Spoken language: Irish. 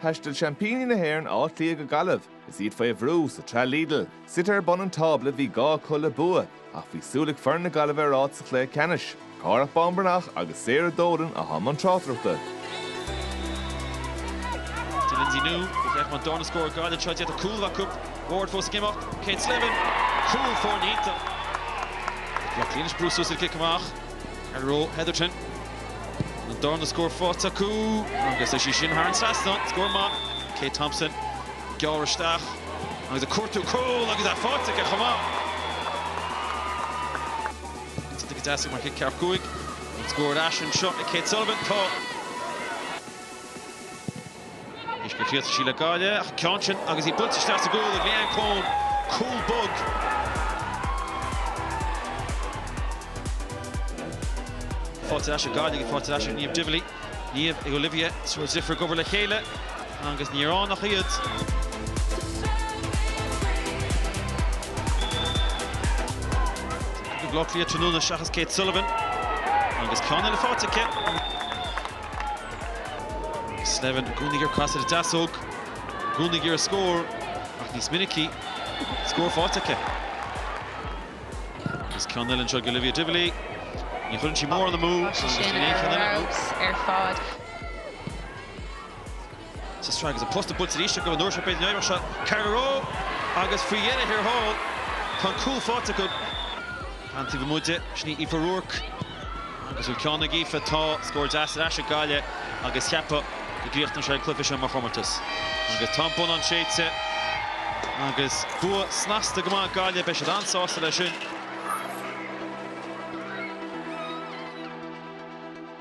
Thaistil seaimpíní na hÉireann Áth Cliath go Gaillimh is iad faoi bhrú sa tsraith Lidl. Suite ar bun an tábla, bhí gá acu le bua ach bhí súil ag foireann na Gaillimhe ar áit sa chluiche ceannais. Cárthach Bán Breathnach agus Sarah Dolan atá i mbun tráchtaireachta. Dé Lynsey Noone go bhféacha an darna scór gar den troid, iad a cúlaibh acu, Ward fós ag imeacht, Kate Slevin, cúl foirne iontach. Ag iarraidh Áth Cliath anois brú suas ar an gcic amach. An raibh Hetherton? An darna scór faighte acu agus tá sí sin thar an trasnán. Scór maith. Kate Thompson, ag gearradh isteach agus ag cuartú cúl agus é faighte aici chomh maith. Cinnte go dteastaigh mar chic ceathracha cúig. An scór ar ais anseo ag Kate Sullivan. Tá. Anois go Cleas Mhíle Gaillimh an ceann sin agus í buailte isteach sa gcúl ag Leanne Coen, cúl bog. Faighte ar ais ag Gaillimh, faighte ar ais ag Niamh Divilly, Niamh ag Olivia, triúr deirfiúr ag obair le chéile agus ní raibh ann ach iad. Ag Áth Cliath tráthnóna seachas Kate Sullivan agus ceann eile faighte aici. Slevin, i gcónaí ag iarraidh casadh ar a deasóg i gcónaí ag iarraidh scór ach níos minicí, scór faighte aici. Agus ceann eile anseo ag Olivia Divilly. Ní chuireann sí mórán amú agus níl aon cheann eile acu. Sistrang agus an posta buailte arís acu an uair seo b'fhéidir an iarracht seo Carla Rowe agus faoi dheireadh thiar thall tá an cúl faighte acu. Ar an taobh amuigh di, sin í Aoife Rourke agus bhfuil ceann ag Aoife tá scór deas ar ais ag Gaillimh agus cheapfá go gcríochnóidh sé an cluiche seo mar chomórtas agus tá an bonnán séidte agus bua snasta go maith ag Gaillimh beidh siad an-sásta leis sin.